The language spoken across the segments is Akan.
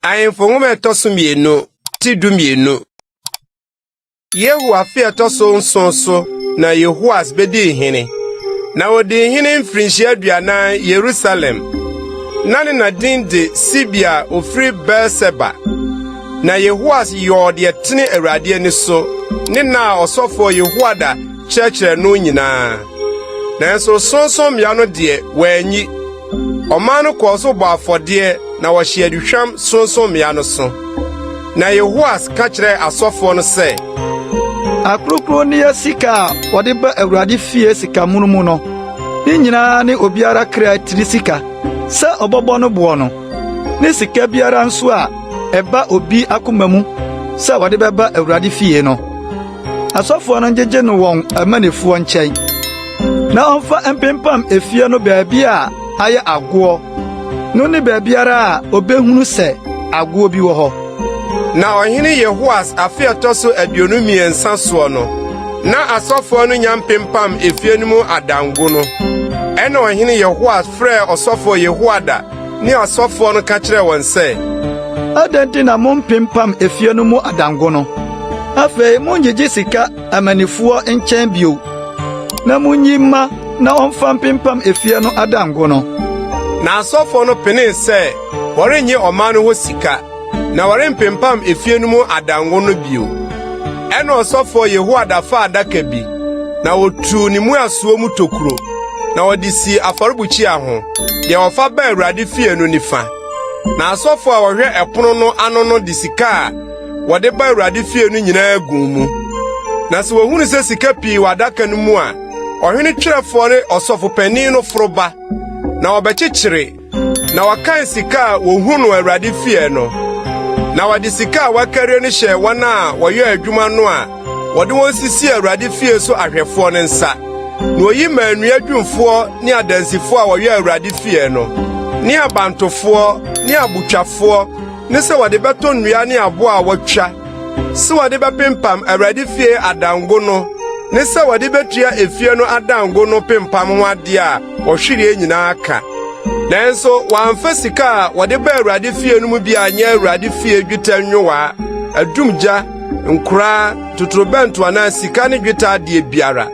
Ahemfo nwoma a ɛtɔ so mmienu ti du mmienu. Yehu afe a ɛtɔ so nson so na Yehoas bedii hene. Na odii hene mfirinhyia aduanan Yerusalem. Na ne na din de Sibia a ofiri Beer-Seba. Na Yehoas yɔɔ deɛ tene Awurade ani so ne na a ɔsɔfoɔ Yehoiada kyerɛkyerɛ no nyinaa. Nanso sorɔnsorɔmmea no deɛ wɔanyi. Ɔman no kɔɔ so bɔ afɔdeɛ na wɔhye aduhwam sorɔnsorɔmmea no so. Na Yehoas ka kyerɛɛ asɔfoɔ no sɛ, Akronkron ne yɛ sika a wɔde ba Awurade fie sikamono mu no, ne nyinaa ne obiara kra tiri sika sɛ ɔbɛbɔ no boɔ no, ne sika biara nso a ɛba obi akoma mu sɛ wɔde bɛba Awurade fie no. asɔfoɔ no ngyegye no wɔn amannifoɔ nkyɛn, na ɔmfa mpempam efie no baabi a ayɛ agoɔ no ne baabiara a obehunu sɛ agoɔ bi wɔ hɔ. Na ɔhene Yehoas afe a ɛtɔ so aduonu mmiɛnsa soɔ no, na asɔfoɔ no nya mpempam efie no mu adanko no. Ɛnna ɔhene Yehoas frɛɛ ɔsɔfoɔ Yehoiada ne asɔfoɔ no ka kyerɛɛ wɔn sɛ, Adɛn nti na mompempam efie no mu adanko no? Afei monngyegye sika amannifoɔ nkyɛn bio, na munyi mma na ɔmfa mpempam efie no adanko no. Na asɔfoɔ no penee sɛ wɔrennye ɔman no hɔ sika. na wɔrempempam efie no mu adanko no bio. Ɛnna ɔsɔfoɔ Yehoiada faa adaka bi, na ɔtuu ne mmuasoɔ mu tokuro, na ɔde sii afɔrebukyia ho, deɛ wɔfa baa Awurade fie no nifa. Na asɔfoɔ a wɔhwɛ ɛpono no ano no de sika a wɔde ba Awurade fie no nyinaa guu mu. Na sɛ wɔhunu sɛ sika pii wɔ adaka no mu a, ɔhene twerɛfoɔ ne ɔsɔfopanin no foro ba, na wɔbɛkyekyere Na wɔkan sika a wohu no Awurade fie no, na wɔde sika a wɔakari no hyɛɛ wɔn a wɔyɛɛ adwuma no a wɔde wɔn sisii Awurade fie so ahwɛfoɔ no nsa. Na oyi maa nnua adwumfoɔ ne adansifoɔ a wɔyɛɛ Awurade fie no, ne abantofoɔ ne abotwafoɔ ne sɛ wɔde bɛtɔ nnua ne abo a wɔatwa sɛ wɔde bɛpempam Awurade fie adango no ne sɛ wɔde betua efie no adango no pempam ho ade a Ɔhwereɛ nyinaa ka. Nanso wɔamfa sika a wɔde ba Awurade fie no mu bi anyɛ Awurade fie dwetɛ nwowaa, adumgya, nkoraa, totorobɛnto anaa sika ne dwetɛ adeɛ biara.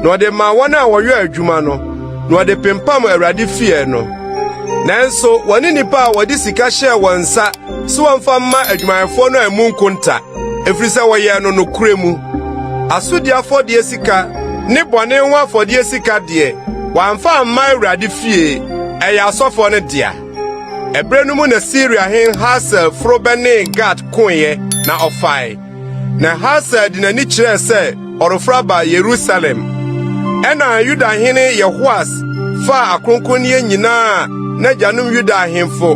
Na ɔde maa wɔn a wɔyɔɔ adwuma no, na ɔde pempam Awurade fie no. Nanso wɔne nnipa a wɔde sika hyɛɛ wɔn nsa So wɔmfa mma adwumayɛfoɔ no ammu nkonta, ɛfiri sɛ wɔyɛɛ no nokorɛ mu. Asodi afɔdeɛ sika ne bɔne ho afɔdeɛ sika deɛ, wɔamfa amma Awurade fie, ɛyɛ asɔfoɔ no dea. Ɛberɛ no mu na Siria hene Hasael foro bɛnee Gat koeɛ, na ɔfae. Na Hasael de n'ani kyerɛɛ sɛ ɔreforo aba Yerusalem. Ɛnna Yuda hene Yehoas faa akronkronneɛ nyinaa a n'agyanom Yuda ahemfo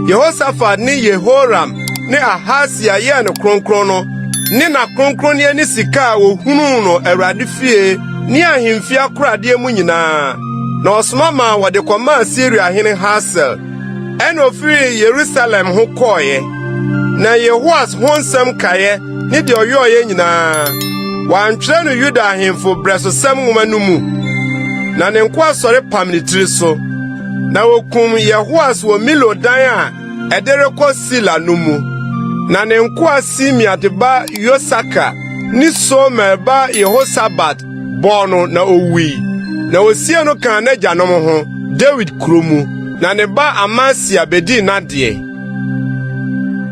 Yehosafat ne Yehoram ne Ahasia yɛɛ no kronkron no ne n'akronkronneɛ ne sika a wɔhunuu no Awurade fie ne ahemfie akoradeɛ mu nyinaa, na ɔsoma maa wɔde kɔmaa Siria hene Hasael. Ɛna ofiri Yerusalem ho kɔɔeɛ, na Yehoas ho nsɛm kaeɛ ne deɛ ɔyɔɔeɛ nyinaa, wɔantwerɛ no Yuda ahemfo brɛsosɛm nwoma no mu. Na ne nkoa sɔre pam ne tiri so, na wɔkum Yehoas wɔ Milo dan a ɛde rekɔ Sila no mu. Na ne nkoa Simea de ba Yosaka ne Somer ba Yehosabat bɔɔ no na owui, na wosiee no kaa n'agyanom ho Dawid Kurow mu, na ne ba Amasia bedii n'adeɛ.